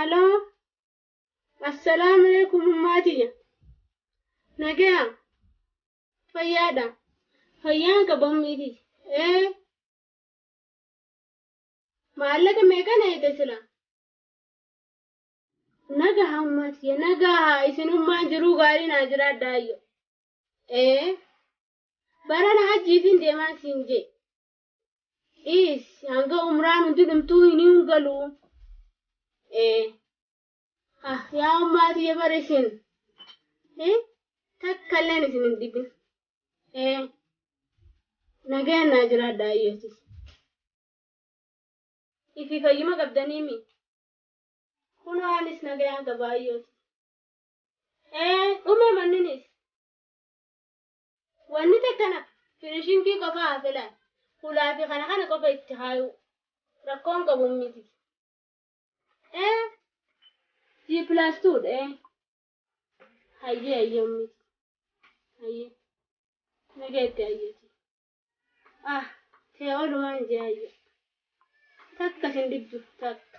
Aloo, assalaamu alaikum ummaa tiyya. Nagaya, fayyaadha. Fayyaan qaba ummii tiyya. Ee, Maallaqa meeqa na hidhe silaa? Nagaha ummaa tiyya nagaha isinummaan jiruu gaarii naa jiraadhaa ayyo. Ee barana hajjiifin deemaa siin jee. Dhiis hanga umraan hundi dhumtuu hin hin galuu. Ee. Ah, yaa ummaa tiyya bar isin eh, takka illeen isin hin dhibin. Eh, nagayaan naa jiraadha ayyootis. Ifi fayyuma qabdanii mi? Kunoo anis nagayaan qaba ayyooti. Eh, dhume manninis. Wanni takka nafa finishingii qofa haa filaan. Hulaa fi kana kana qofa itti haayuu. Rakkoon qabu miti. ee g plus two dha ee hayyee hayyee ummiti hayyee nageetti hayyeeti ah tee olumaan jee hayyee takka sin diddu takka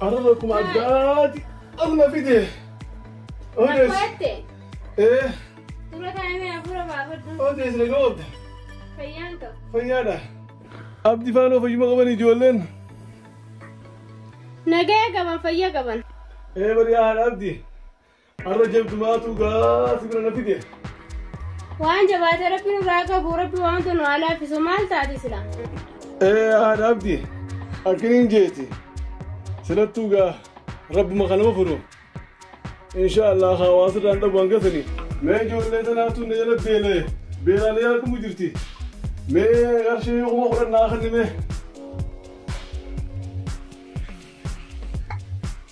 Arraba akkuma addaati amma fide. Odees. Akkootte. Ee Dura kaa'imee hafuura baafadhu. odees na goota. Fayyaan qaba. Fayyaadha. Abdi faanoo fayyuma qaban ijoolleen. Nagaya qaban fayya qaban. Ee bari haadha abdi. Har'a jabdu maatuu gaa si bira na fide. Waan jabaate rabbi nurraa qabu rabbi waan tunu haa laaffisu maal taate sila. Ee haadha abdi akkiniin jeeti silattuu gaa rabbuma kanuma furu. Insha Allah hawaasa irraan dhabu hanga sani. Mee ijoollee tanaatu na jala beela'e beelaalee argamu jirti. Mee qarshii kuma kudhan naa kennime.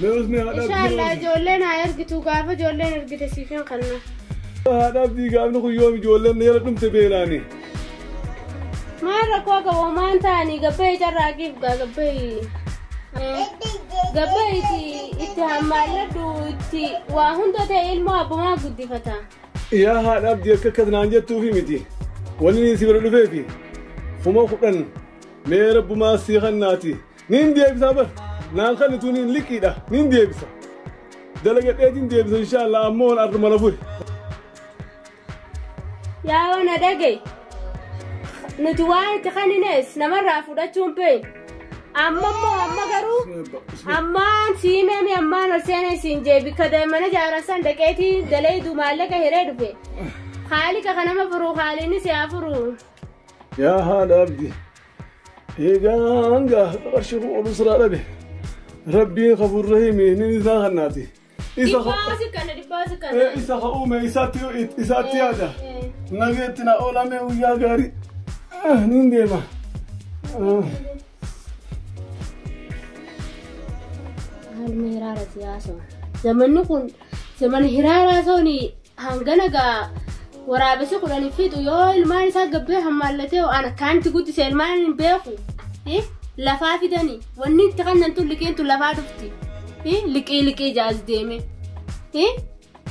Mee usni haadha Insha Allah abdii ijoolleen haa ergitu gaafa ijoolleen ergite siifin kanna. haadha abdii gaafni kun yoom ijoolleen yala dhumte beelaani. Maal rakkoo qabu maan ta'anii gabbee carraaqiif gaa gabbee. Gabbee itti itti hammaalladhu itti waa hunda ta'e ilmoo abbumaa guddifata. Yaa haadha abdii akka akkas naan jettuufi miti. Wanni inni si bira dhufeefi kuma kudhan mee rabbumaa si kannaati. Niin deebisaa bar naan kannituu niin liqiidha niin deebisa dalagadheetiin deebisa inshaallah ammoo wan arra mala fure. Yaa wana dhagay. Nuti waan itti kanninees namarraa fudhachuun bee. Amma immoo amma garuu ammaan siimee ammaan ol seenee siin jee bikka daa'imman ijaaran san dhaqeetii daleedu maallaqa hiree dhufe. Haali ka kanama furu haaliinis yaa furu. Yaa haadha abdi Eegaan gaa qarshii kun oluu siraa dhabe. Rabbiin kafuur rahimi inni isaa kannaati. Isa ka- Dhibbaa si kana dhibbaa si kana. eh, isa ka uume isaatti isaatti yaada. Nageetti na oolame guyyaa gaarii. Ah, Niin deema. Ah. Haaluma hiraara siyaasa. Zamanni kun Zaman hiraaraa sooni hangana gaa waraabessi kudhan fixu yoo ilmaan isaa gabbee hammaallatee waan akkaanti guddise ilmaan hin beeku. Eh, Lafaa fidani wanni itti kannan tun liqiin tun lafaa dhufti. Eh, Liqii liqii jaas deeme. Eh,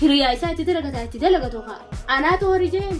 Hiriyaa isaa itti dalagataa itti dalagatu haa. Anaatu horii jeeni.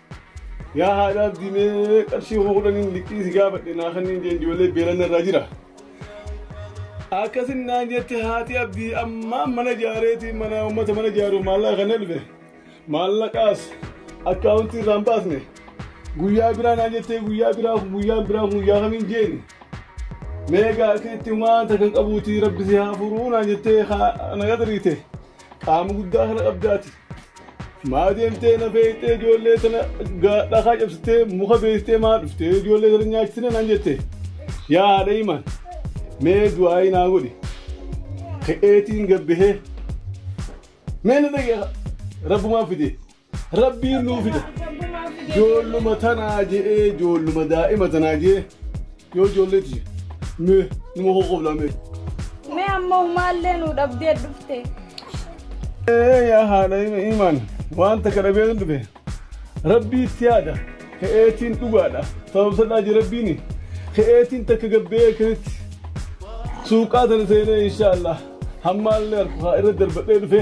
Yaa haadha abdii mee qarshii kuma kudhaniin liqii si gaafadhe naa kanniin jeen ijoollee beelanna irraa jira. Akkasin naan jette haati abdii ammaa mana jaareeti mana uummata mana jaaru maallaqa kan elbe maallaqaas akkaawuntii irraa hin baasne guyyaa biraa naan jettee guyyaa biraa kun guyyaa biraa kun guyyaa kamiin jeeni. Meegaa akkasitti waanta kan qabuuti rabbi si haa furuu naan jettee haa na gadariite qaama guddaa kana qabdaati. Maa deemtee na feeyxee ijoollee sana dhakaa cabsitee muka beektee maa dhuftee ijoollee sana nyaachisina naan jette. Yaa haadha himan mee du'aayi naa godhi. Ka'eetiin gabbihee mee na dhagee rabbumaa fide rabbiin nuu fida. Ijoolluma tanaa je'ee ijoolluma daa'ima tanaa je'ee. Yoo ijoollee tiyya. Mee nima qoqqoblaa mee. Mee ammoo maallee nu dhabdee dhufte. Ee yaa haadha imaan wanta kana beekun dhufe rabbii itti yaada ka'eetiin dhugaadha sababsadhaa je rabbiini ka'eetiin takka gabbee akkasitti suuqaa tana seenee inshaallah hammaallee harkaa irra darbadhee dhufe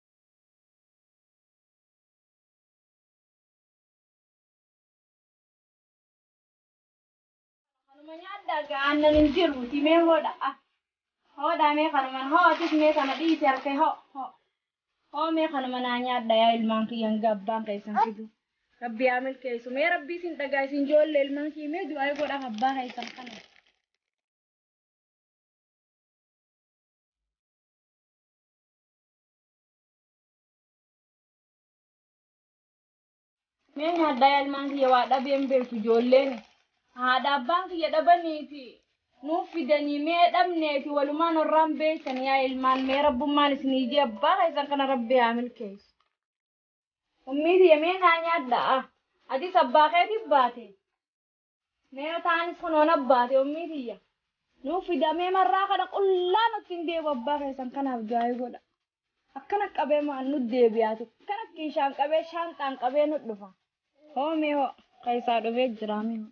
Kanuma nyaadhaa gaa aannan hin jiru timee hoodha. Ah. Hoodhaa mee kanuman hoo atis mee kana dhiisi harkee hoo hoo. Hoo mee kanuma naa nyaadha yaa ilmaan kiyya hanga abbaan keessan fidu. Rabbi yaa milkeessu mee rabbi isin dhagaa isin joolle ilmaan kiyya mee du'aa godhaaf abbaa keessan kana. Mee nyaadhaa yaalmaan kiyya waa dhabee hin beektu ijoolleen. Haadha abbaan kiyya dhabanii fi nuuf fidanii mee dhabnee fi walumaan warraan beektan yaa ilmaan mee rabbummaan isin hiijee abbaa keessan kana rabbi haa milkeessu. Ummii tiyya mee naa nyaadhaa. Atis abbaa keetiif baate. Mee yoo ta'anis kunoo na baate ummii tiyya. Nuuf fida mee marraa kana qullaa nutti hin deebu abbaa keessan kanaaf du'aayii godha. Akkana qabee maan nut deebiyaati kan akkin shaan qabee shaanxaan qabee nut dhufa. Hoo mee hoo keessaa dhufee jiraa mee hoo.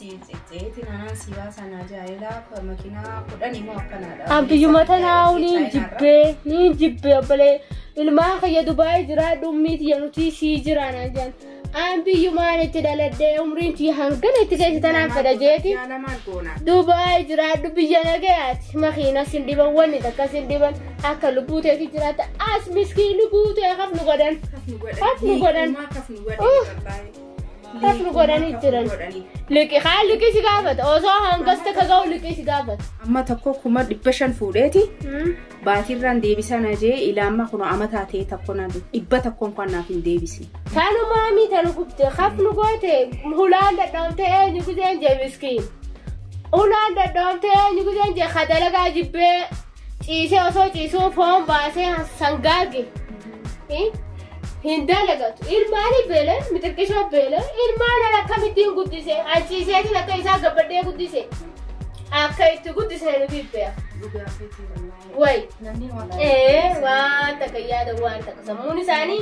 An biyyuma tanaa'u niin jibbee niin jibbee obbolee ilmaan kiyya dubaa'ee jiraa dhummii tiyya nuti sii jiraan ajaan. An biyyumaan itti dhaladhee umriin tiyya hangana itti keessa tanaan fedha jeeti. Dubaa'ee jiraadhu biyya nagayaati. Makiina sin dhiban wanni takka sin dhiban akka lubbuu teeti jiraata. As miskiin lubbuu tee kaf nu godhan. Kaf nu godhan. Akkas nu godhanii jiran. Liqii haa liqii si gaafata. Osoo hangas takka ga'u liqii si gaafata. Amma tokko kuma dhibba shan fuudheeti. Baatiirraan deebisaa na jee ilaamma kun ama taatee tokko na dhibba tokkoon kan naaf hin deebisne. Tanumaa mii tanu gubde kaf nu goote hulaan dadhabamte eenyu gudeen jee miskiin. Hulaan dadhabamte eenyu gudeen jee ka dalagaa jibbee Ciisee osoo ciisuu foon baasee sangaage hin dalagatu. Ilmaanii beelan mixirqishoo beelan ilmaan ala akkamittiin guddise anciiseetiin akka isaa gabbadhee guddise akka itti guddise nu bibbeera. Wayi. Ee waan takka yaada waan takka sammuun isaanii